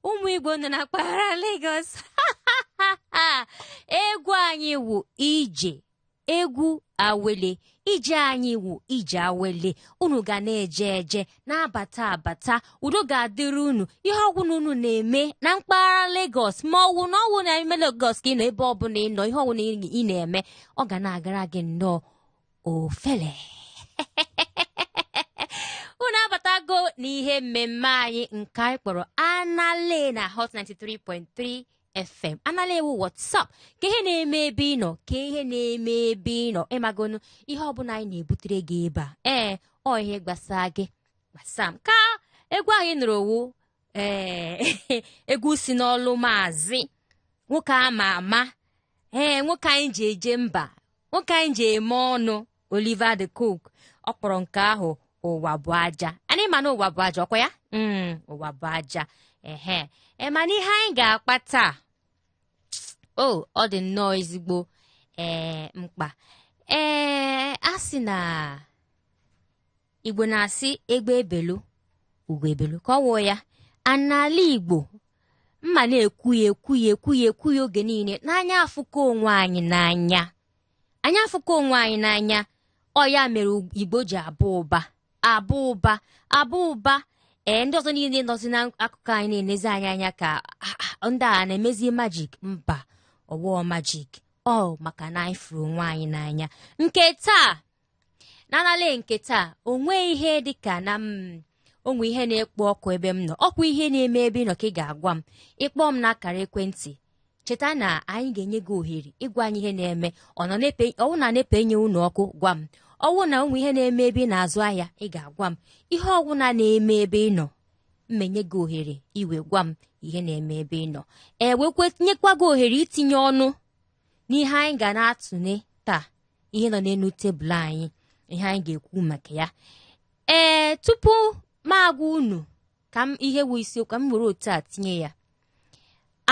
ụmụ igbo nọ na mpaghara Lagos egwu anyị wụ ije egwu awele ije anyị wụ ije awele unu ga na-eje eje na-abata abata udo ga-adịrị unu ihe ọwụna unu na-eme na mpaghara Lagos ma ọwụ na ọwụ na ime Lagos ka ị nọ ebe ọbụla ị nọ ihe ọwụna ị na-eme ọ ga na-agara gị nnọọ ofele unu abatago n'ihe mmemme anyị nke anyị kpọrọ anala na hot 93.3 fm anala wụ what's up ka ihe na-eme ebe ị nọ ka ihe na-eme ebe ị nọ ịmagonu ihe ọbụla anyị na-ebutere gị ebe a ee ọ ihe gbasaa gị gbasa m ka egwu anyị nụrụ ọ wụ ee egwu si n'olu maazị nwoke ama ama ee nwoke anyị ji eje mba nwoke anyị ji eme ọnụ Oliver De Coque ọ kpọrọ nke ahụ ụwa bụ aja anyị ma na ụwa bụ aja ọkwa ya mm, ụwa bụ aja ehe e, mana ihe anyị ga-akpa taa o ọ dị nnọọ ezigbo ee mkpa ee a sị na igbo na-asị egbe belu ugo ebelu ka ọ wụọ ya a n'ala igbo m ma na-ekwu ya ekwu ya ekwu ya ekwu ya oge niile na anyị afụka onwe anyị n'anya anyị afụka onwe anyị n'anya ọ ya mere igbo ji aba ụba aba ụba aba ụba ee ndị ọzọ niile nọzi n'akụkụ anyị na-enezi anyị anya ka ah, ah, ndị a na-emezi majik mba ọwụọ majik ọ maka na anyị fụrụ onwe anyị n'anya nke taa n'anala nke taa o nwee ihe dị ka na o nwee ihe na-ekpo ọkụ ebe m nọ ọkwa ihe na-eme ebe ị nọ ka ị ga-agwa m ị kpọọ m n'akara ekwentị cheta na anyị ga-enye gị ohere ịgwa anyị ihe na-eme ọwụ na NEPA enye unu ọkụ gwa m ọwụ na o nwee ihe na-eme ebe ị na-azụ ahịa ị ga-agwa m ihe ọwụna na-eme ebe ị nọ m ma enye gị ohere i wee gwa m ihe na-eme ebe ị nọ e wekwa nyekwa gị ohere itinye ọnụ n'ihe anyị ga na-atụle taa ihe nọ n'elu tebụl anyị ihe anyị ga-ekwu maka ya ee tupu m agwa unu ka m ihe wụ isiokwu ka m were otu a tinye ya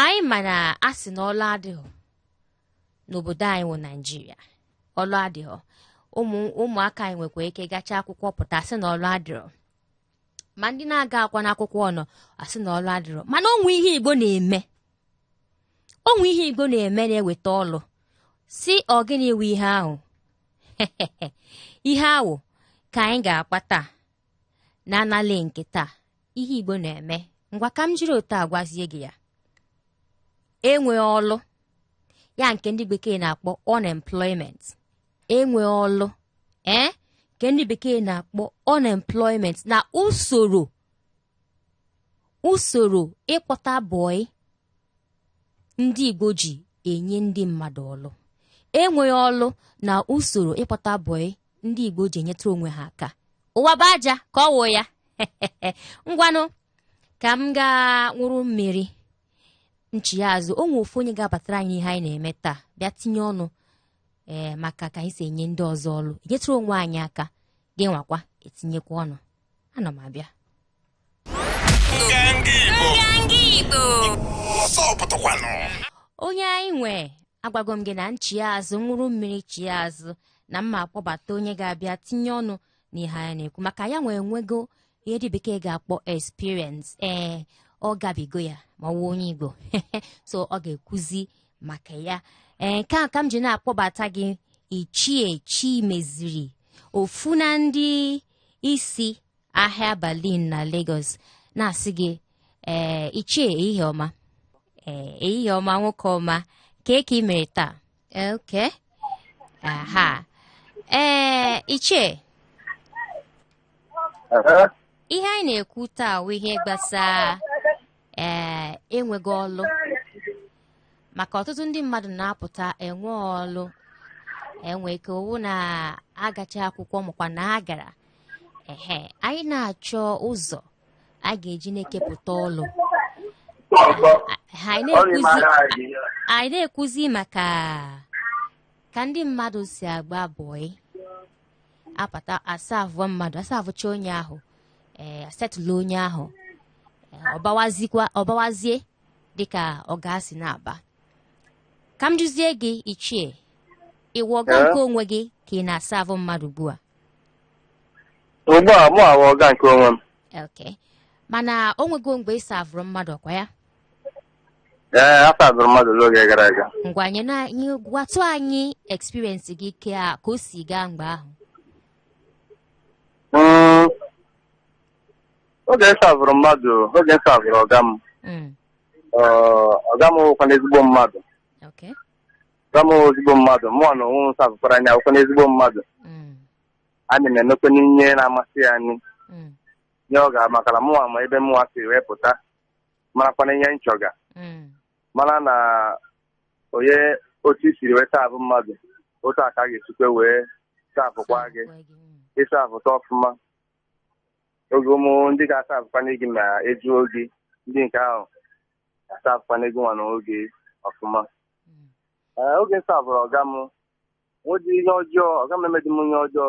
anyị ma na a sị na ọlụ adịghị n'obodo anyị wụ naijiria ọlụ adịghị ụmụ ụmụaka anyị nwekwa ike gacha akwụkwọ pụta a sị na ọlụ adịrọ ma ndị na-agakwanụ akwụkwọ ọnọ a sị na ọlụ adịrọ mana o nwee ihe igbo na-eme o nwe ihe Igbo na-eme na-eweta ọlụ sị ọ gịnị wụ ihe ahụ ihe ahụ ka anyị ga-akpa taa na anali nke taa ihe Igbo na-eme ngwa ka m jiri otu a gwazie gị ya enwe ọlụ ya nke ndị bekee na-akpọ unemployment enwe ọlụ ee eh? nke ndị bekee na-akpọ unemployment na usoro usoro ịkpọta bọị ndị Igbo ji enye ndị mmadụ ọlụ enweghị ọlụ na usoro ịkpọta bọị ndị Igbo ji enyetụrụ onwe ha aka ụwa bụ aja ka ọ wụ ya ngwanụ ka m gaa nwụrụ mmiri m chighaa azụ o nwe ofu onye ga-abatara anyị ihe anyị na-eme taa bịa tinye ọnụ ee maka ka anyị si enye ndị ọzọ ọlụ enyetụrụ onwe anyị aka gị nwakwa etinyekwa ọnụ ana m abịa onye anyị nwe agwago m gị na m chie azụ nwụrụ mmiri chie azụ na mma akpọbata onye ga-abịa tinye ọnụ n'ihe anyị na-ekwu maka ya nwee nwego ihe ndị bekee ga-akpọ experience ee eh, ọ gabigo ya ma ọ wụ onye Igbo so ọ ga-ekwuzi maka ya ee eh, nke a ka m ji na-akpọbata gị Ichie Chimeziri ofu na ndị isi ahịa Berlin na Lagos na-asị gị ee ichie ehihie ọma ee ehihie ọma nwoke ọma kee ka ị mere taa okay aha ee ichie Ee, ihe anyị na-ekwu taa bụ ihe gbasara ee enweghị ọlụ maka ọtụtụ ndị mmadụ na-apụta enwe ọlụ e nwe ike ọ wụ na a gachaa akwụkwọ makwa na a gara ehe anyị na-achọ ụzọ a ga-eji na-ekepụta ọlụ Ha, anyị na-ekwuzi maka ka ndị mmadụ si agba bọị abata asavụ mmadụ asavụcha onye ahụ ee asetụlụ onye ahụ ee, ọ bawazikwa ọ bawazie dịka ọga si na-aba ka m jụzie gị ichie ị wụ ọga Ee? nke onwe gị ka ị na-asavụ mmadụ ugbu a ugbu a mụ awụ ọga nke onwe m okay mana o nwego mgbe ị savụrụ mmadụ ọ kwa ya ee asavụrụ m mmadụ n'oge gara aga ngwa nye na anyị gwatụ anyị experience gị kee ka o si gaa mgbe ahụ Mm, oge m savụrụ mmadụ oge m savụrụ ọga m Mm, ọ, ọga m wụkwanụ ezigbo mmadụ okay. ọga m wụ ezigbo mmadụ mụnwa na onwe m savụkwara nya wụkwanụ ezigbo mmadụ Mm, anyị na-emekwanụ ihe na-amasị ya anyị mm, nye ọga makala mụwa ma ebe mụwa si wee pụta marakwana ihe nchọga Mm. mara na onye otu i siri wee savụ mmadụ otu ahụ ka a ga-esikwa wee savụkwa gị Gwa gị, mm. ị savụcha ọfụma oge ụmụ ndị ga-asavụkwana gị ma eduo gị ndị nke ahụ asavụkwana gị nwa na oge ọfụma Mm. Ee, oge m savụrụ ọga m nwedị ihe ọjọọ ọga m emedị m ihe ọjọọ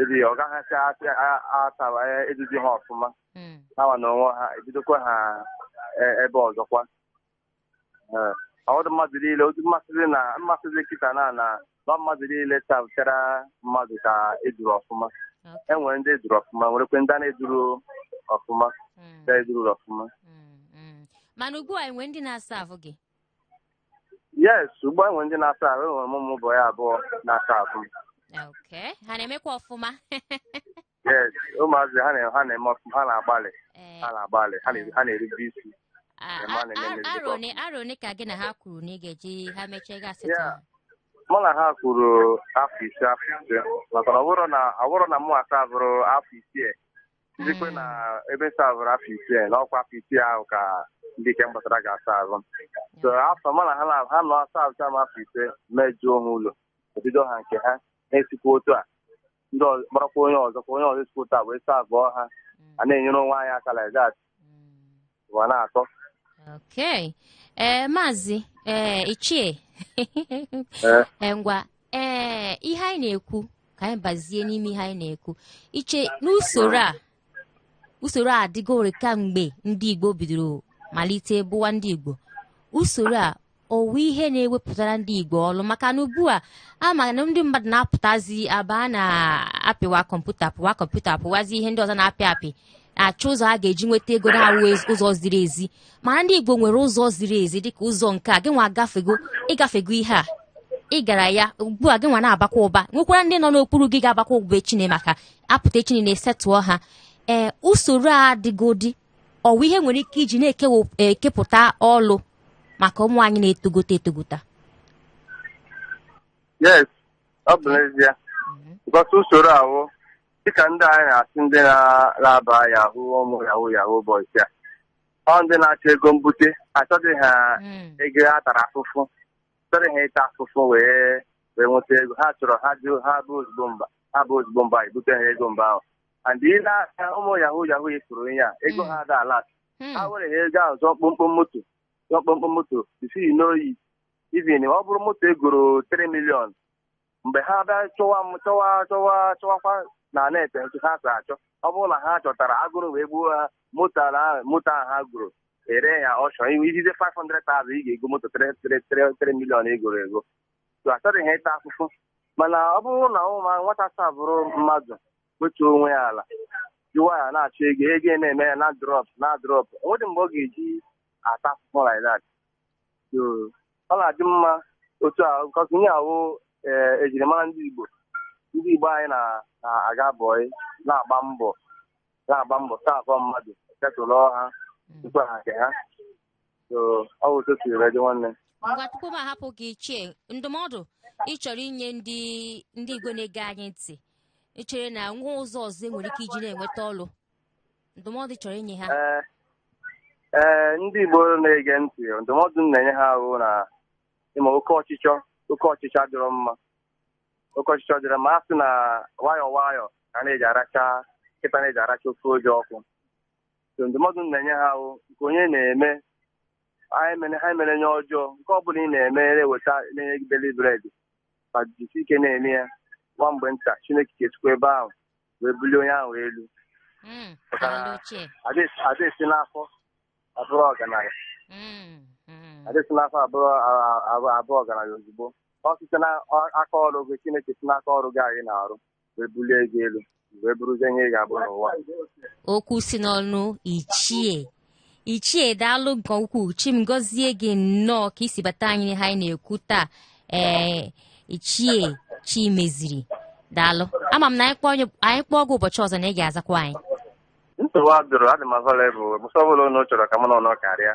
ebi ọ gaghịcha asị- a- atawa e- eduzi ha ọfụma Mm. hanwa na onwe ha ebidokwa ha e- ebe ọzọkwa Ee, ọdụ mmadụ niile otu mmasịrị na mmasịrị kịta na na na mmadụ niile savụchara mmadụ ka eduru ọfụma Okay. enwere ndị eduru ọfụma nwerekwe ndị a na-eduru ọfụma Mm. ndị eduru ọfụma Mm. Mm. mana ugbu a enwe ndị na-asavụ gị yes ugbu a enwe ndị na-asavụ enwere m ụmụ bọyị abụọ na-asavụ m okay ha na-emekwa ọfụma yes ụmụazị ha na- ha na-eme ọfụma ha na-agbalị Ee, ha na-agbalị ha na- ha na-erube isi a- ema a- na-eme a- mmejọ. arọ one- arọ one ka gị na ha kwuru na ị ga-eji ha mechaa gị esetụọ Yeah. mụ na ha kwuru afọ ise afọ ise maka na ọ bụrụ na ọ bụrụ na mụwa savụrụ afọ isii Izikwe na ebe savụrụ afọ isii na ọkwa afọ isii ahụ ka ndị nke m kpọtara ga-asavụ so afọ mana ha na ha nọ asavụcha m afọ ise m eduo ha ụlọ ebido ha nke ha na-esikwa otu a ndị ọzọ kpọrọkwa onye ọzọ kwa onye ọzọ esikwa otu a wee savụọ ha a na-enyere onwe anyị aka like that ụwa na-atọ Okay. Ee, maazị ee ichie Ee. Ee, ngwa ee ihe anyị na-ekwu ka anyị bazie n'ime ihe anyị na-ekwu ichie n'usoro a usoro a adịgori kamgbe ndị Igbo bidoro malite bụwa ndị Igbo usoro a ọ wụ ihe na-ewepụtara ndị Igbo ọlụ maka na ugbu a a ma na ndị mmadụ na-apụtazi aba na-apịwa kọmputa pịwa kọmputa pịwazi ihe ndị ọzọ na-apị apị achọ ụzọ a ga-eji nweta ego na-awụ ụzọ ziri ezi mana ndị Igbo nwere ụzọ ziri ezi dịka ụzọ nke a gị nwa agafego ịgafego ihe a ị gara ya ugbu a gị nwa na-abakwa ụba nwekwara ndị nọ n'okpuru gị ga-abakwa ụba echine maka apụta echine na-esetụọ ha ee usoro a dịgodi ọ wụ ihe nwere ike iji na-ekepụta ọlụ maka ụmụ anyị na-etogote etogota yes ọ bụ n'ezie because usoro ahụ dịka ndị anyị na-asị ndị na-aba yahoo ụmụ yahoo yahoo boys a ọ ndị na-achọ ego mbute achọghị ha ego a tara afụfụ achọrọ ha ịta afụfụ wee wee nweta ego ha chọrọ ha jụ ha bụ ozugbo mba ha bụ ozugbo mba ebute ha ego mba ahụ and i lee aka ụmụ yahoo yahoo ị fụrụ ihe a ego ha ada alast Hmm. ha were ha ego ahụ zụọ kpọmkpọm moto zụọ kpọmkpọm moto isi n'oyi even ọ bụrụ moto egoro 3 million mgbe ha bịa chọwa m chọwa chọwa chọwakwa na net ha si achọ ọ bụrụ na ha chọtara agụrụ wee gbuo ha moto ala ahụ moto ahụ ha goro ere ya ọchọ iwe ijize 500,000 ị ga-ego moto 3 million egoro ego so achọghị ha ịta afụfụ mana ọ bụrụ na ụmụ nwata savụrụ mmadụ wetuo onwe ya ala ji nwayọ na-achọ ego ego ya na-eme ya na-adrọp na-adrọp o nwedị mgbe ọ ga-eji ata afụfụ like that so ọ na-adị mma otu a because ihe ahụ ee ejirimara ndị Igbo ndị Igbo anyị na- na-aga bọị na-agba mbọ na-agba mbọ savụọ mmadụ setụlụọ ha tupu ha nke ha so ọ bụ otu o siri wee dị nwanne ngwa tupu m ahapụ gị ichie ndụmọdụ ị chọrọ inye ndị ndị igwe na-ege anyị ntị ị chere na enwe ụzọ ọzọ enwere ike iji na-enweta ọlụ ndụmọdụ ị chọrọ inye ha ee ee ndị Igbo na-ege ntị ndụmọdụ m na-enye ha wụ na ị ma oke ọchịchọ oke ọchịchọ adịrọ mma oke ọchịchọ adịrọ mma a sị na nwayọọ nwayọọ ka a na-eji aracha nkịta na-eji aracha ofe oji ọkụ so ndụmọdụ m na-enye ha wụ nke onye na-eme anyị mere ha mere nye ọjọọ nke ọ bụla ị na-eme na-eweta na-enye gị daily bread ma jisi ike na-eme ya nwa mgbe nta Chineke ga-esikwa ebe ahụ wee bulie onye ahụ elu Mm, daalụ ichie Ada esi- ada esi n'afọ abụrụ ọgaranya Mm, mm. adị esi n'afọ abụ a- a- abụ ọgaranya ozugbo ọ site n'aka ọrụ gị Chineke si n'aka ọrụ gị anyị na-arụ wee bulie gị elu wee bụrụzie ihe ị ga-abụ n'ụwa okwu si n'ọnụ ichie ichie daalụ nke ukwuu chi m gọzie gị nnọọ ka i si bata anyị n'ihe anyị na-ekwu taa ee ichie Chimeziri daalụ ama m na anyị kpọọ onye- anyị kpọọ gị ụbọchị ọzọ na ị ga-azakwa anyị nsogbu adịrọ adị m available mgbe ọbụla unu chọrọ ka mụ na ụnụ karịa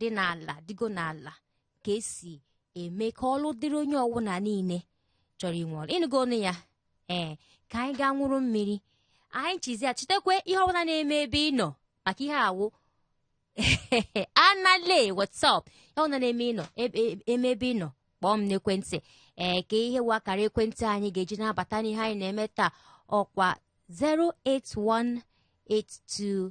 dị n'ala dịgo n'ala ka esi eme ka ọlụ dịrị onye ọwụna niile chọrọ inwe ọlụ ị nụgo ọnụ ya ee ka anyị gaa ṅụrụ mmiri anyị chizi ya chetakwa ihe ọbụla na-eme ebe ị nọ maka ihe a wụ anale whatsapp ihe ọbụla na-eme ịnọ eme ebe ị nọ kpọọ m n'ekwentị ee ka ihe wụ akara ekwentị anyị ga-eji na-abata n'ihe anyị na-eme taa ọkwa 08182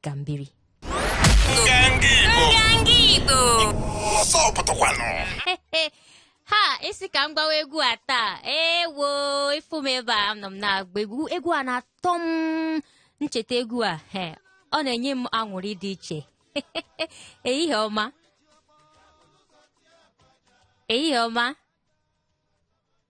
ka m biri ha isi ka m gbawa egwu a taa ewo ị fụ m ebe a anọ m na-agba egwu egwu a na-atọ m m cheta egwu a he ọ na-enye m aṅụrị dị iche ehihie ọma ehihie ọma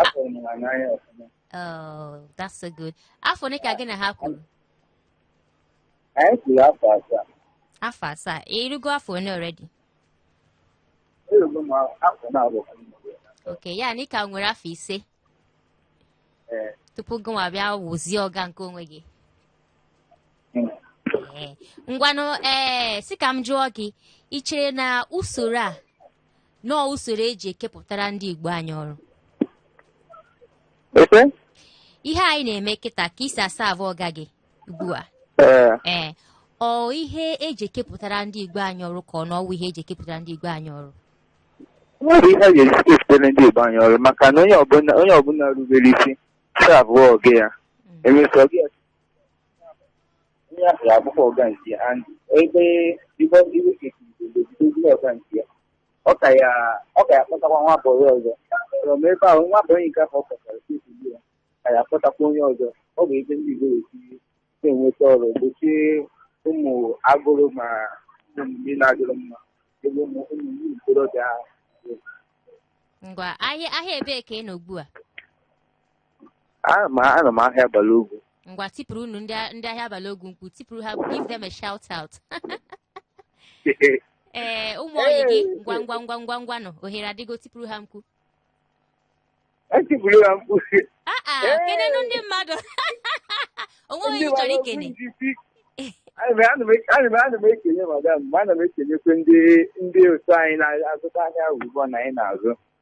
Afụrụ m ha n'anya ọfụma. Oh, that's so good. Afọ ole ka gị na ha kwuru? Anyị kwuru afọ asaa. Afọ asaa. Ị rụgo afọ ole already? Erugo m afọ naabọ ka m nọrọ ya. Okay, ya na ị ka nwere afọ ise Ee. tupu gị nwa bịa wụzie ọga nke onwe gị. Mm. Ee. Ngwanụ ee sị ka m jụọ gị ị chere na usoro a na ọ usoro eji ekepụtara ndị Igbo anyị ọrụ Efe? ihe anyị na-eme kịta ka i si aserve ọga gị ugbu a Ee. ee ọ ihe eji ekepụtara ndị Igbo anyị ọrụ ka ọ na ọ wụ ihe eji ekepụtara ndị Igbo anyị ọrụ ọ bụ ihe eji ekepụtara ndị Igbo anyị ọrụ maka na onye ọbụla onye ọbụla rubere isi serve ọga ya emesịa ọga ya Onye ahụ abụkwa ọga nke ya and ebe ibe iwe kekiri obodo ọga nke ya ọ ka ya ọ ka ya kpọtakwa nwa bọyị ọzọ from ebe ahụ nwa bọyị nke ahụ ọ kpọtara kekiri ya ka ya kpọtakwa onye ọzọ ọ bụ ebe ndị Igbo si na-enweta ọrụ gbochie ụmụ agụrụ ma ụmụ ndị na-adịrị mma ebe ụmụ ụmụ ndị ntorobịa ahụ ngwa ahịa ahịa ebee ka ị nọ ugbu a Ana m anọ m ahịa Balogun. ngwa tipụrụnụ ndị a- ndị ahịa Balogun mkpu tipụrụ ha give them a shout out ee ụmụ ọyị gị ngwa ngwa ngwa ngwa ngwanụ ohere adịgo tipụrụ ha mkpu Etipụrụ ha mkpu. Ah, ah, Ee. kenenụ ndị mmadụ o nwee onye ị chọrọ ikene Ana m- ana m- ana m- ana m ekele madam ma ana m ekelekwe ndị ndị otu anyị na-azụta ahịa ugbu a na anyị na-azụ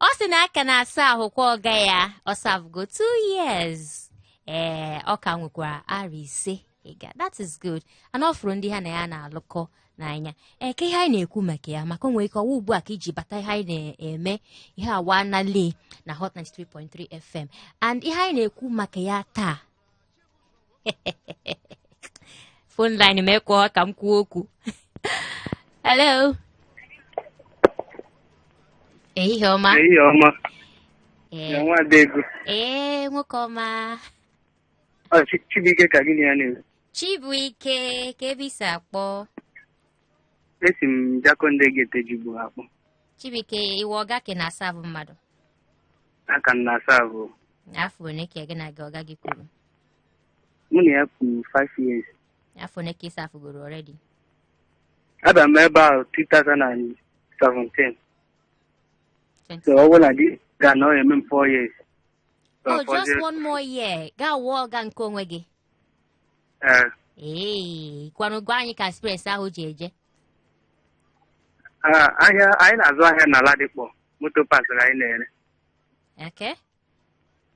ọ sị na ọ ka na-aservekwa ọga ya ọ servego two years ee ọ ka nwekwara arọ ise ịga that is good and ọ fụrụ ndị ha na ya na-alụkọ n'anya ee ka ihe anyị na-ekwu maka ya maka o nwere ike ọ wụ ugbu a ka i ji bata ihe anyị na-eme ihe awa nale na Hot 93.3 FM and ihe anyị na-ekwu maka ya taa phone line m ekwe ka m kwuo okwu hello ehihie ọma Ehihie ọma, Ee, ya nwa Adaego. ee nwoke ọma Ọ Chi- Chibuike ka gị na ya na-ekwu. chibuike kee ebe i si akpọ Esi m Jakande Gate Ejigbo akpọ. chibuike ị wụ ọga ka ị na-aserve mmadụ aka m na-aserve afọ one ka gị na gị ọga gị kwuru mụ na ya kwuru 5 years afọ one ka ị servegoro already abịa m ebe ahụ 2017 so ọ bụrụ na di ga na ọ eme m 4 years So, oh just fọzie- one more year ga-awụ ọga nke onwe gị Eh, ee ngwanụ gwa anyị ka experience ahụ ji eje ah, ahịa anyị na-azụ ahịa na Ladipo motor parts ka anyị na-ere Okay.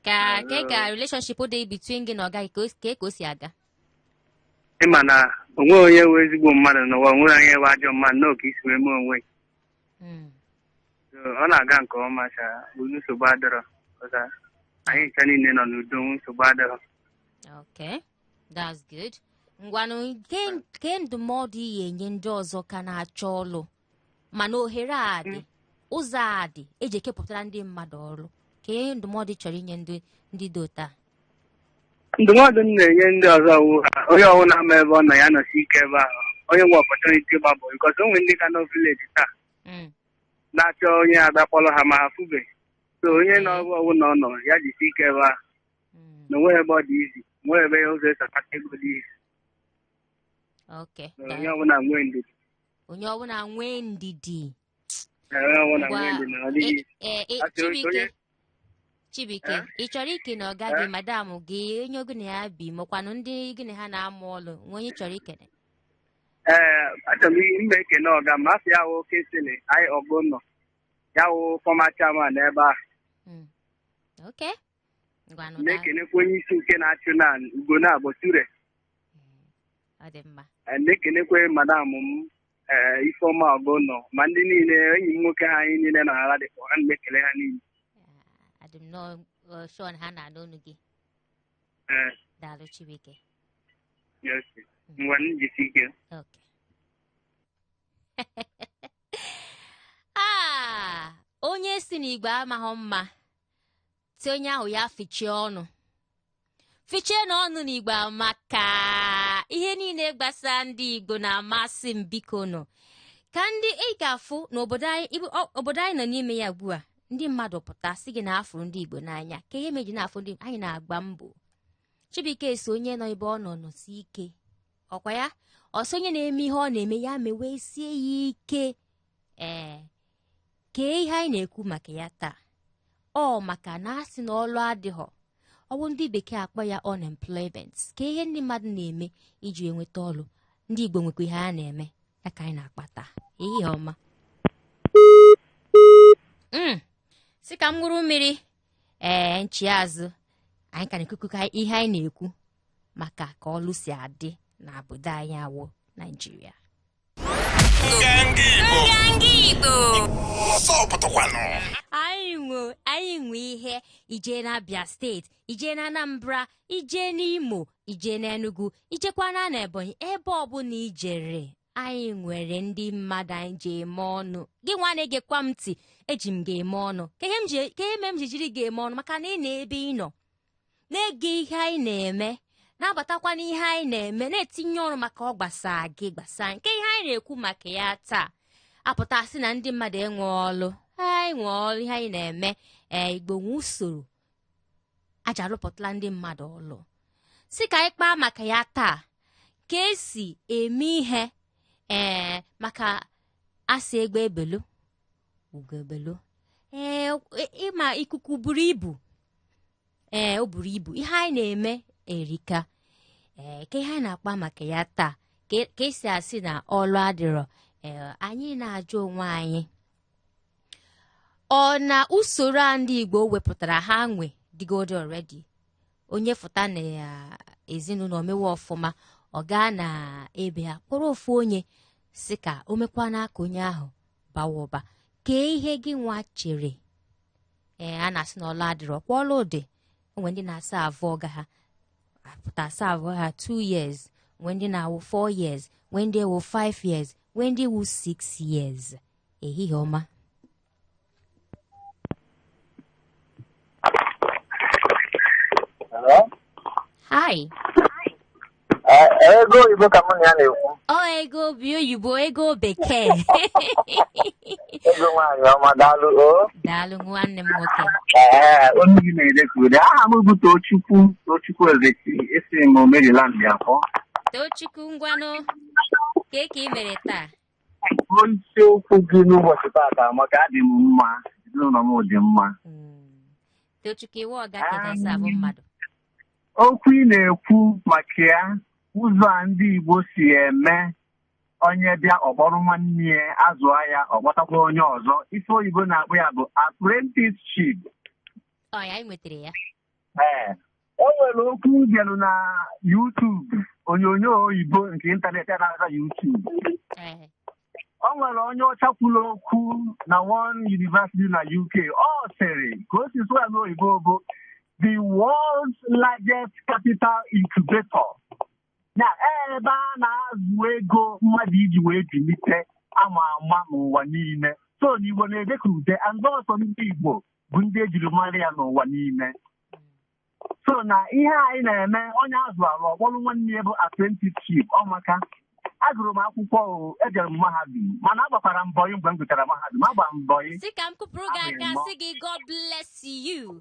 Kee kee ka relationship dị between gị na ọga gị ka o- ka ka o si aga. ị ma na o nweghị onye wụ ezigbo mmadụ n'ụwa o nweghị onye wụ ajọ mmadụ na ọ ka i si wee mee onwe ya. Mm. So, ọ na-aga nke ọma sha o nsogbu adịrọ ọza anyị ncha niile nọ n'udo nwe nsogbu adịrọ Okay. That's good. Ngwanụ kee kee ndụmọdụ ị ya-enye ndị ọzọ ka na-achọ ọlụ mana ohere a dị mm. ụzọ a dị eji ekepụtara ndị mmadụ ọrụ kee ndụmọdụ ị chọrọ inye ndị ndị dị otu a ndụmọdụ m na-enye ndị ọzọ wụ ha onye ọwụna ma ebe ọ nọ ya nọsi ike ebe ahụ onye nwee opportunity gbaa boy because o nwere ndị ka nọ village taa Mm. na-achọ onye abịa kpọrọ ha ma ha afụbeghị so onye nọ ebe ọwụna ọ nọ ya jisi ike ebe ahụ Mm. na o nweghị ebe ọ dị easy o nweghị ebe ụzọ e si akpata ego dị easy ok na onye ọbụla nwee ndidi onye ọbụla nwee ndidi Ee, ọ na Ngwa, nwee ndidi na ọ dịghị easy onye- Chibuike onye- Chibuike Eh? ị chọrọ ikene ọga gị Eh? madam gị onye gị na ya bi makwanụ ndị gị na ha na-amụ ọlụ o nwee onye ị chọrọ ikene Ee, achọrọ m i- m na-ekele ọga m afa ya wụ Kingsley Anyị Ọgụnọ ọ ya wụ former chairman ebe a Mm. okay ngwanụ daalụ. na-ekenekwa onye isi nke na-achị now Ugonabọ ture ọ dị mma Eh, na-ekenekwa madam m eh, Ifeọma Ọgụnọ ma ndị niile enyi m nwoke ha anyị niile na Ladipo ana m ekele ha niile Ah, adị m nọọ eh, sure na ha na-anụ olu gị Eh, daalụ Chibuike yes. ngwanụ jisi ike Okay. ah, onye sị na Igbo amaghị mma sị onye ahụ ya fichie ọnụ fichie na ọnụ n'igbo maka ihe niile gbasa ndị igbo na-amasị m bikonụ kee ndị ị ga-afụ n'obodo anyị ibu- ọ- obodo anyị nọ n'ime ya ugbu a ndị mmadụ pụta sị gị na afụrụ ndị igbo n'anya kee ihe meji na-afụ ndị anyị na-agba mbọ Chibuike sị onye nọ ebe ọ nọ nọsi ike ọ kwa ya ọ sị onye na-eme ihe ọ na-eme ya mewe sie ya ike ee kee ihe anyị na-ekwu maka ya taa ọ maka na a sị na ọlụ adịghọ ọ wụ ndị bekee akpọ ya unemployment kee ihe ndị mmadụ na-eme iji enweta ọlụ ndị igbo nwekwa ihe ha na-eme ya ka anyị na-akpa taa ihe ọma mm. sị ka m ṅụrụ mmiri ee nchi azụ anyị ka na-ekwukwu ka ihe anyị na-ekwu maka ka ọlụ si adị na obodo anyị awụ naijiria Nganga Igbo Nganga Igbo ọzọ pụtakwanụ anyị nwe anyị nwe ihe i jee n'Abia steeti i jee na Anambra i jee n'Imo i jee n'Enugu i jekwana na Ebonyi ebe ọbụla i jere anyị nwere ndị mmadụ anyị ji eme ọnụ gị nwa na-egekwa m ntị eji m ga-eme ọnụ kee ihe m ji- kee ihe mere m ji jiri ga-eme ọnụ maka na ị nọ ebe ị nọ na-ege ihe anyị na-eme na-abatakwa n'ihe anyị na-eme na-etinye ọnụ maka ọ gbasa gị gbasa nke ihe anyị na-ekwu maka ya taa a pụta sị na ndị mmadụ enwe ọlụ anyị nwe ọlụ ihe anyị na-eme ee igbo nwe usoro ha ji alụpụtala ndị mmadụ ọlụ sị ka anyị kpaa maka ya taa ka e si eme ihe ee maka a sị egbe belu ugo ebelu ee ị ma ikuku buru ibu ee o buru ibu ihe anyị na-eme erika ee kee ihe anyị na-akpa maka ya taa kee ka e si asị na ọlụ adịrọ ee anyị na-ajụ onwe anyị ọ na usoro a ndị igbo wepụtara ha nwe dịgodi already onye fụta na ezinụlọ o mewe ọfụma ọ gaa na be ha kpọrọ ofu onye sị ka o mekwana ka onye ahụ bawa ụba kee ihe gị nwa chere ee a na-asị na ọlụ adịrọ ọ kwa ọlụ dị o nwe ndị na-aserve ọga ha a pụta serve ha 2 years nwee ndị na-awụ 4 years nwee ndị wụ 5 years nwee ndị wụ 6 years ehihie ọma Hello? hi ego oyibo ka mụ na ya na-ekwu ọ ego obi oyibo ego bekee ego nwaanyị ọma daalụ o daalụ nwanne m nwoke ee onye gị na-ede ka ude aha m bụ tochukwu tochukwu ezeki esi m Maryland akpọ tochukwu ngwanụ kee ka ị mere taa Ruo isiokwu gị n'ụbọchị tata amaka adị m mma ezinụlọ m dị mma Mm. tochukwu ị wụ ọga ka ị na-aserve mmadụ okwu ị na-ekwu maka ya ụzọ a ndị Igbo si eme onye bịa ọ kpọrọ nwanne ya azụọ ya ọ kpọtakwa onye ọzọ ife oyibo na-akpọ ya bụ apprenticeship ọ ya anyị nwetara ya ee o nwere okwu m gelụ na YouTube onyonyo oyibo nke ịntanetị a na-aza YouTube Ee, o nwere onye ọcha kwuru okwu na one university na UK ọ sịrị ka o si sụọ ya n'oyibo bụ the world's largest capital incubator na ebe a na-azụ ego mmadụ iji wee bilite ama ama n'ụwa niile so n'igbo na-edeka ude and ọ sọ ndị igbo bụ ndị ejiri mara ya n'ụwa niile so na ihe anyị na-eme onye a zụrụ ọ kpọrọ nwanne ya bụ apprenticeship ọ maka agụrụ m akwụkwọ o ejere m mahadum mana agbakwara m bọyị mgbe m gụchara mahadum agba m bọyị si ka m kụpụrụ gị Abụghị aka mọ. si gị god bless you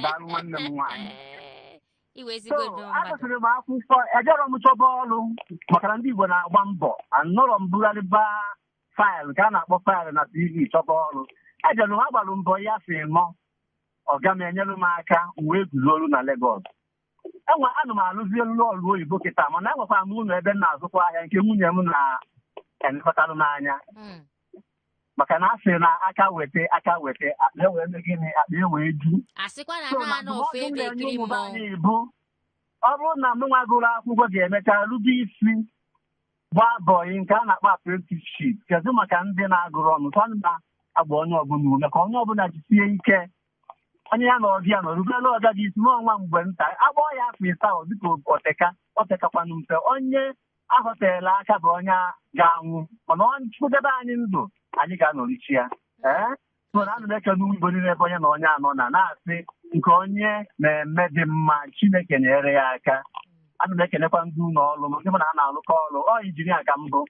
daalụ nwanne m nwaanyị Ee, iwe so ezigbo nnọọ mmadụ agụsịrị m akwụkwọ ejerọ m chọba ọrụ maka na ndị igbo na-agba mbọ anọrọ m bugharịba faịlụ ka a na-akpọ faịlụ na CV chọba ọrụ ejere m agbalụ m bọyị si nọ ọga m enyere m aka m wee guzo ọrụ na Legọs ee ana m alụzi ee ọrụ oyibo kịta mana enwekwara m ụlọ ebe m na-azụkwa ahịa nke nwunye m na-elekọtalụ m anya Mm. maka na a sị na aka weta aka weta akpa ewee mee gịnị akpa ewee ju a sịkwa na So, na na anọ ndụmọdụ ofu m ebe na-enye ekiri ụmụ be mmọnwụ anyị bụ ọ bụrụ na m nwa gụrụ akwụkwọ ga-emecha rube isi gbaa bọyị nke a na-akpọ apprenticeship kedu maka ndị na-agụrọnụ so ana m agba onye ọbụla ume ka onye ọbụla jisie ike onye ya na ọga ya nọ rubere ọga gị isi na ọ nwa mgbe nta agbaa ya afọ isaa ọ dịka o teka o tekakwanụ mfe onye ahọ teela aka bụ onye ga-anwụ mana Chukwu debe anyị ndụ anyị ga-anọrichi ya ee mana ana m ekele ụmụ Igbo niile ebe onye na onye anọ na na-asị nke onye na-eme dị mma Chineke nyere ya aka ana m ekelekwa ndị ụlọ ọrụ m ndị mụ na ha na-alụkọ ọrụ ọ injinia ka m bụ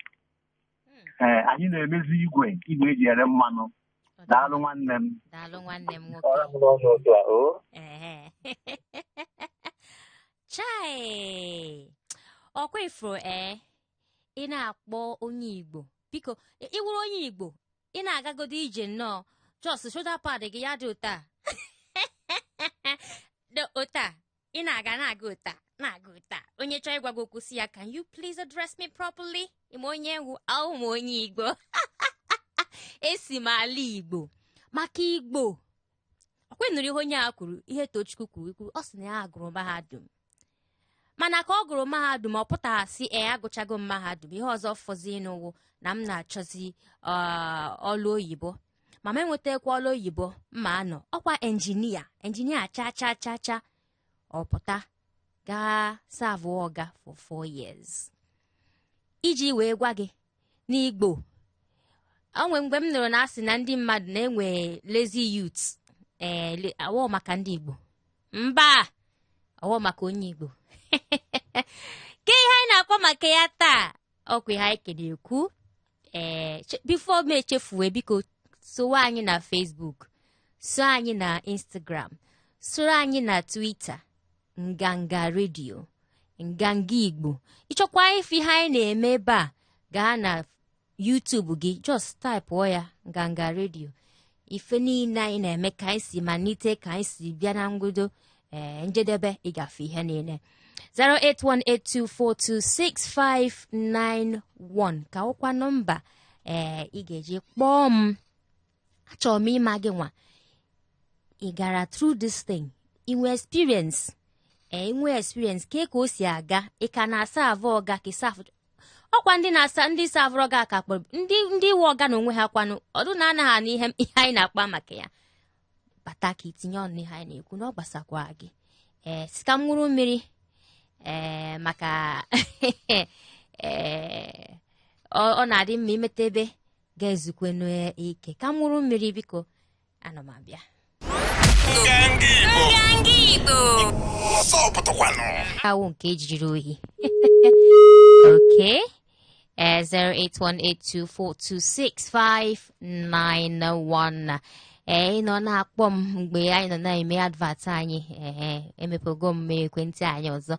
Mm, ee anyị na-emezi igwe igwe eji ere mmanụ ọ dị daalụ mma. nwanne m daalụ nwanne m nwoke ọrụ m n'ọnụ otu a o Ehe. chai ọkwa ị furu ee ị na-akpọ onye igbo biko ị- ị wụrụ onye igbo ị na-agagodo ije nnọọ just shoulder pad gị ya dị otu a dị otu a ị na-aga na-aga otu a na-aga otu a onye chọọ ịgwa gị okwu sị ya can you please address me properly ị ma onye m wụ awụ m onye igbo esi m ala igbo maka igbo ọkwa ị nụrụ ihe onye a kwuru ihe tochukwu kwuru ikwu ọ sị na ya agụrụ mahadum mana ka ọ gụrụ mahadum ọ pụtaghị sị ee agụchago m mahadum ihe ọzọ fọzinụ wụ na m na-achọzi uh, ọlụ oyibo ma m enwetakwa ọrụ oyibo mma anọ ọkwa enjinia enjinia cha cha cha cha ọ pụta gaa savụ ọga for four years iji wee gwa gị n'igbo o nwe mgbe m nụrụ na a sị na ndị mmadụ na-enwe lazy youth ee le- awọ maka ndị igbo mba awọ maka onye igbo ka ihe anyị na-akpa maka ya taa ọkwa ihe anyị ka na-ekwu ee che- before m echefuwe biko sowe anyị na Facebook so anyị na Instagram soro anyị na Twitter nganga redio nganga igbo ị chọkwa ịfụ ihe anyị na-eme ebe a gaa na YouTube gị just type ya nganga redio ife niile anyị na-eme ka anyị si malite ka anyị si bịa na mbido ee njedebe ị ga-afụ ihe niile 08182426591 ka ọkwa nọmba ee ị ga-eji kpọọ m achọrọ m ịma gị nwa ị gara through this thing i nwe experience ee i nwe experience ke ka o si aga ị ka na-asavụ ọga ka ị savụ ọkwa ndị na-asa ndị savụrụ ọga ka a kpọrọ ndị ndị wụ ọga n'onwe ha kwanụ ọdụ na anaghị anụ ihe ihe anyị na-akpa maka ya bata ka i tinye ọnụ ihe anyị na-ekwu na ọ gbasakwa gị ee sị ka m ṅụrụ mmiri ee maka ee ọ ọ na-adị mma i meta ebe ga-ezukwanụ ike ka m ṅụrụ mmiri biko ana m abịa awụ nke e jiri ohi okay uh, 08182426591 ee ị nọ na-akpọ m mgbe anyị nọ na-eme advert anyị ee emepego m ekwentị anyị ọzọ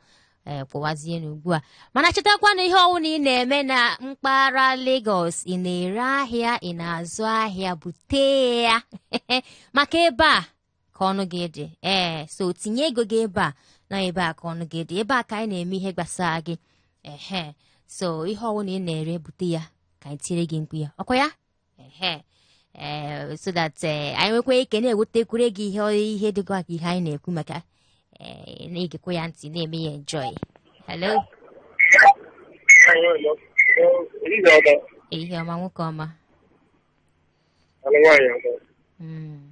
ee kpọwazienụ ugbu a mana chetakwa na ihe ọwụna ị na-eme na mpaghara Lagos ị na-ere ahịa ị na-azụ ahịa bute ya maka ebe a ka ọnụ gị dị ee so tinye ego gị ebe a na ebe a ka ọnụ gị dị ebe a ka anyị na-eme ihe gbasara gị ehe so ihe ọwụna ị na-ere bute ya ka anyị tiere gị mkpu ya ọkwa ya ehe ee so that ee, anyị nwekwa ike na-ewetakwuru gị ihe ihe dịkwa ka ihe anyị na-ekwu maka ee, na-egekwa ya ntị na-eme ya enjoy hello ehihie ọma nwoke ọma Mm.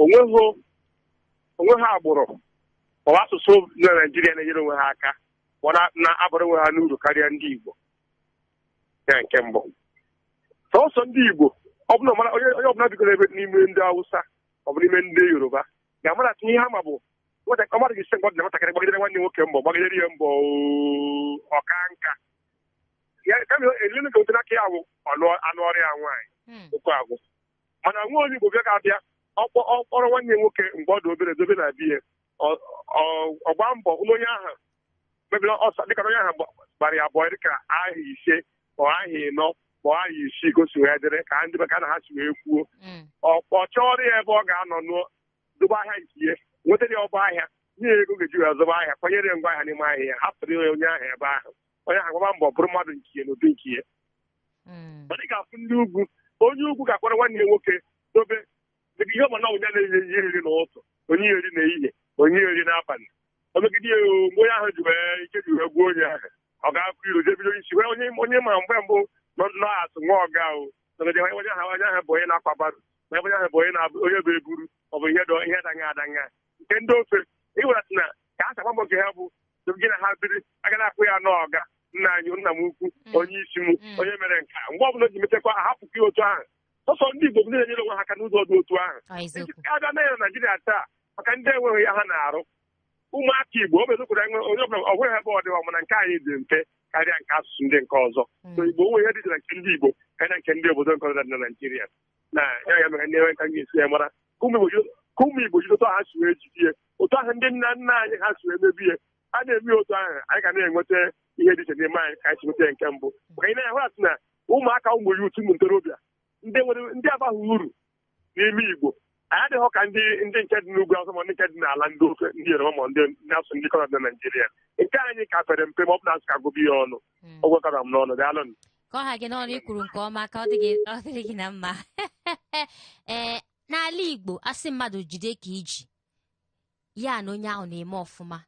onweghị onweghị agbụrụ maọbụ asụsụ dị na Naịjirịa na-enyere onwe ha aka ma ọ na- na-abara onwe ha n'uru karịa ndị Igbo ya nke mbụ sọsọ ndị Igbo ọ bụla mara onye onye ọbụla bigoro ebe n'ime ndị Hausa ọ bụ n'ime ndị Yoruba ga-amara ihe ha ma bụ nwata ọ mara gị ise mgbe ọ dị na nwatakịrị gbagidere nwanne nwoke mbọ gbagidere ya mbọ oo, ọ kaa nka ya kama elenu ka otu n'aka ya bụ ọnụ anụọrọ ya nwaanyị Hmm. okwu agwụ mana nwa onye Igbo bịa ga-abịa ọ kpọ ọ kpọrọ nwanne ya nwoke mgbe ọ dị obere dobe na be ya Ọ- ọ- ọ gbaa mbọ hụ na onye ahụ mebiri ọsọ dịka na onye ahụ gba- gbara ya boy dịka aha ise ma ọ aha ịnọ ma ọ aha isii ka o si wee dịrị ka ndị be ka na ha si wee kwuo Mm. ọ chọọrọ ya ebe ọ ga-anọ nụọ dobe ahịa nke ya nwetara ya ọba ahịa nye ya ego ọ ga-eji wee zụba ahịa kwanyere ya ngwa ahịa n'ime ahịa ya hapụrụ ya onye ahụ ebe ahụ onye ahụ gbaba mbọ bụrụ mmadụ nke ya n'ụdị nke ya Mm. mana ị ga-afụ ndị ugwu onye ugwu ga-akpọrọ nwanne ya nwoke dobe dịka ihe ọbụla onye na-enye ihe eri n'ụtụ o nye eri n'ehihie o nye eri n'abalị o megide ya oo, mgbe onye ahụ ji wee ike ji wee gwụ onye ahụ ọ ga-akụ iru jee bido isi wee onye onye ma mgbe mbụ nọ nọ asụ nwa ọga o nọgide onye onye ahụ onye ahụ bụ onye na-akwa barrow onye onye ahụ bụ onye na-abụ onye bụ eburu ọ bụ ihe dọ ihe danya adanya nke ndị ofe ịwelata na ka a sakwa mbọ nke ha bụ so gị na ha biri a ga na-akpọ ya n'ọga nna anyị nna m ukwu Mm. onye isi m Mm. onye mere nke a mgbe ọbụla o ji mechakwa ahapụkwa ya otu ahụ sọsọ ndị Igbo bụ ndị na-enyere onwe ha aka n'ụzọ dị otu ahụ Ọ eziokwu. a bịa na ya na Naịjirịa taa maka ndị enweghị ihe ha na-arụ ụmụaka Igbo ọ bụ eziokwu na enwe- onye ọbụla o nweghị ebe ọ dịwa mana nke anyị dị mfe karịa nke asụsụ ndị nke ọzọ so Mm. Igbo o nwe ihe dị na nke ndị Igbo karịa nke ndị obodo nke ọzọ dị na Naịjirịa na ya ya mere ndị enwe ka m ga-esi ya mara ka ụmụ Igbo ji- ka ụmụ Igbo jide otu ha si wee jide ya otu ahụ ndị nna nna anyị ha si wee mebe ya a na-eme otu ahụ anyị ga na-enweta ihe dị iche n'ime anyị ka anyị si nweta ya nke mbụ maka anyị na-ahụ asị na ụmụaka ụmụ youth ụmụ ntorobịa ndị nwere ndị abaghị uru n'ime Igbo anyị adịghị ka ndị ndị nke dị n'ugwu Hausa ma ndị nke dị n'ala ndị ofe ndị yoruba ma ndị ndị asụsụ ndị nke ọzọ na naijiria nke anyị ka pere mpe ma ọ bụ na a sị ka a gụba ya ọnụ Mm. ọ bụ ka ọ ra m n'ọnụ daalụ nụ. ka ọ ha gị n'ọnụ i kwuru nke ọma ka ọ dị gị- ọ dịrị gị na mma ee n'ala igbo a sị mmadụ jide ka i ji ya na onye ahụ na-eme ọfụma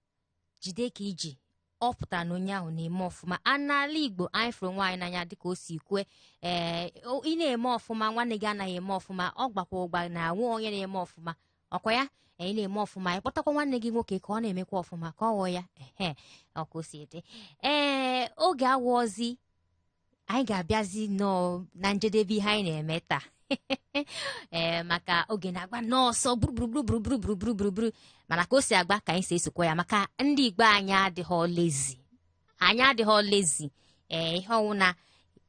jide ka i ji ọ pụtara na onye ahụ na-eme ọfụma a n'ala igbo anyị fụrụ onwe anyị n'anya dịka o si kwue ee o- ị na-eme ọfụma nwanne gị anaghị eme ọfụma ọ gbakwa ụgba na nwe onye na-eme ọfụma ọ kwa ya ee, ị na-eme ọfụma ị kpọtakwa nwanne gị nwoke ka ọ na-emekwa ọfụma ka ọ ghọọ ya ehe ọ ka o si dị ee oge awụọzi anyị ga-abịazi nnọọ na njedebe ihe anyị na-eme taa ee maka oge na-agba n'ọsọ gburugburu mana ka o si agba ka anyị si esokwa ya maka ndị igbo anyị adịghị lazy anyị adịghị lazy ee ihe ọwụna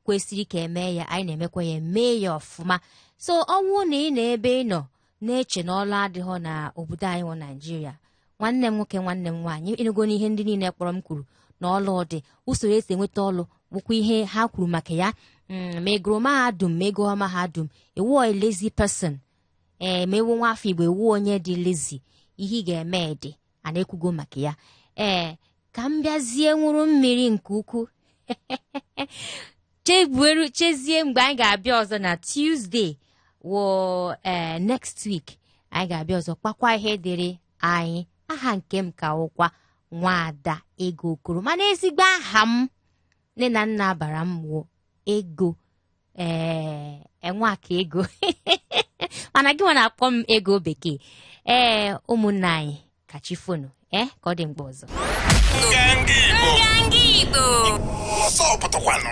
kwesịrị ka eme ya anyị na-emekwa ya mee ya ọfụma so ọ wụrụ na ị nọ ebe ị nọ na-eche na ọlụ adịghọ na obodo anyị wụ naijiria nwanne m nwoke nwanne m nwaanyị ị nụgo n'ihe ndị niile kpọrọ m kwuru na ọlụ dị usoro e si enweta ọlụ bụkwa ihe ha kwuru maka ya Mm, ma ị gụrụ mahadum ma ị gụghọ mahadum ị wụ a lazy person ee ma ị wụ nwa afọ igbo ị wụ onye dị lazy ihe ị ga-eme dị a na-ekwugo maka ya ee ka m bịazie nwụrụ mmiri nke ukwuu chebueru chezie mgbe anyị ga-abịa ọzọ na Tuesday wụ ee next week anyị ga-abịa ọzọ kpakwa ihe dịrị anyị aha nke m ka wụkwa nwaada ego okoro mana ezigbo aha m nne na nna bara m wụ ego ee nwakaego mana gị nwa na-akpọ m ego bekee ee ụmụnna anyị ka chi foonụ ee ka ọ dị mgbe ọzọ Nganga Igbo. Nganga Igbo. Ọsọ pụtakwanụ.